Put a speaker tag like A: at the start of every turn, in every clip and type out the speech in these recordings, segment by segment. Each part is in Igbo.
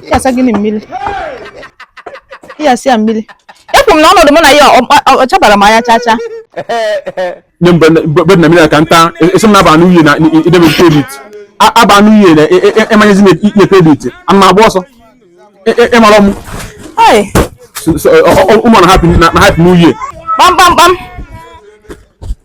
A: ya asa gịnị mmiri ya asa ya mmiri ekwu m na ọnọdụ mụ na ya ọ- ọ- ọ chabara m anya chacha nye mgbe mgbe na mmiri ka nta esi m na-aba n'uhie na idebe kredit aba n'uhie na ịmanyezi na inye kredit a na-agba ọsọ Ị- ị- ị mara m Ai, ụmụ na hapụ n'uhie kpamkpamkpam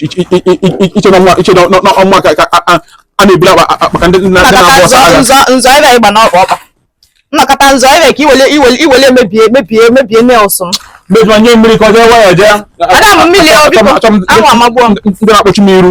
A: i che na ọnwa ka a na-eburu akpa ka ndị na-agba ọsọ agha nzọ nzọ ebe ị gba n'ọkpa ọkpa nnọkọta nzọ ebe ka iwele iwele iwele mebie mebie mebie nails m mejọ nye mmiri ka ọ jee waya jee ada m mmiri o biko Achọ m- anwụ amagbuo m ndị na-akpọchi m iru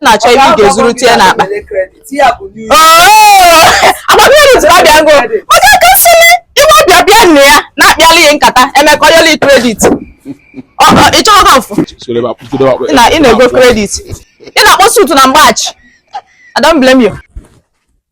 A: na-achọ ebe ị ga-ezuru tie n'akpa agba kredit ka bịa ngo onye kasịrị iwe ọbịa bịa nne ya na-akpịala ihe nkata emeka oyeli kredit ị chọrọ ha mfụ ị na-ego kredit ị na-akpọ isi ụtụtụ na mgbachi I don't blame you.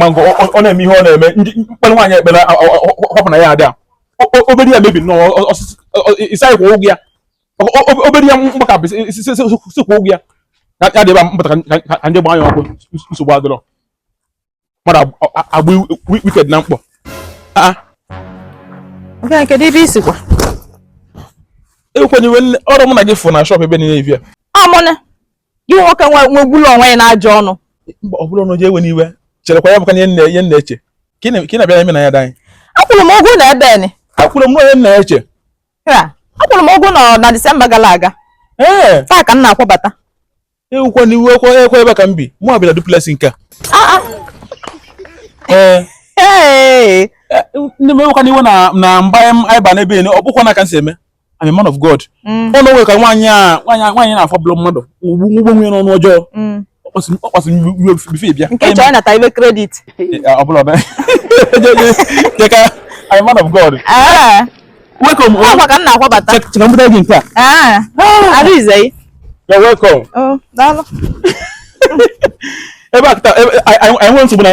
A: mango ọ na-eme ihe ọ na-eme ndị mkpere nwaanyị ekpere họpụ na ya adị a obere ya mebi nnọọ ịsaghị kwa ụgwọ ya obere ya gbakapụ si kwa ụgwọ ya ya dị ebe mpụta ka ndị gbaa ya ọkụ nsogbu adịrọ mmadụ agba wicked na mkpọ kedu ebe i sikwa ekwenyewe ọrụ mụ na gị fụ na shọp ebe niile ivia amụna gị nwoke nwegbula onwe ya n'ajọ ọnụ ọ bụrụ na oje ewe n'iwe cherekwa ya bụka ihe nna ihe nna eche ka ị na-abịa eme na ya danyị akwụrụ m ụgwọ na ebe ni akwụrụ m onye nna eche akwụrụ m ụgwọ na Disemba gara aga ee taa ka m na-akwabata ewekwana iwe ekwe ekwe ebe ka m bi mụ abịara duplex nke a ee ndị m ewekwana iwe na mgbe anyị ba n'ebe ọ bụkwa na ka m si eme I'm a man of God mm. ọnụ o nwe ka nwaanyị a nwaanyị na-afọ bụlọ mmadụ ugbu gbuo onwe ya n'ọnụ ọjọọ mm. ọ kpasị iwe bife bịa nke chọọ ịnata iwe kredit ọ bụla ọbịa jeka I'm a man of God ah. welcome ọ maka m na-akwabata che ka m buta gị nke a ah. ah. Arinze you're welcome oh, daalụ ebe a kịta anyị nwere nsogbu na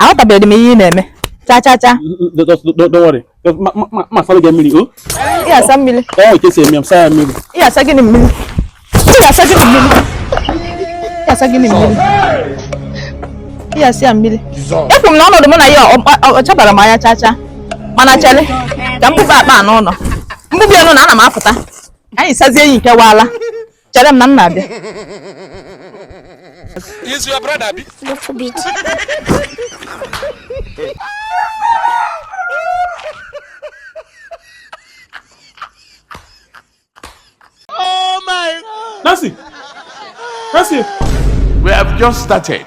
A: aghọtabeghị m ihe ị na-eme cha cha cha m saara gị mmiri o ị ga-asa mmiri ee nke si eme m saa mmiri ị ga-asa gịnị mmiri ị ga-asa gịnị mmiri ị ga-asa gịnị mmiri ị ga-asa ya mmiri ekwu m na ọnọdụ mụ na ya ọ chabara m anya cha cha mana chele ka m buba akpa a n'ụlọ m buba ya ọnụ na ana m apụta anyị sazie enyi nke waala chere m na m na-abịa Is your brother bi? Little bit. Nancy! Nancy! We have just started.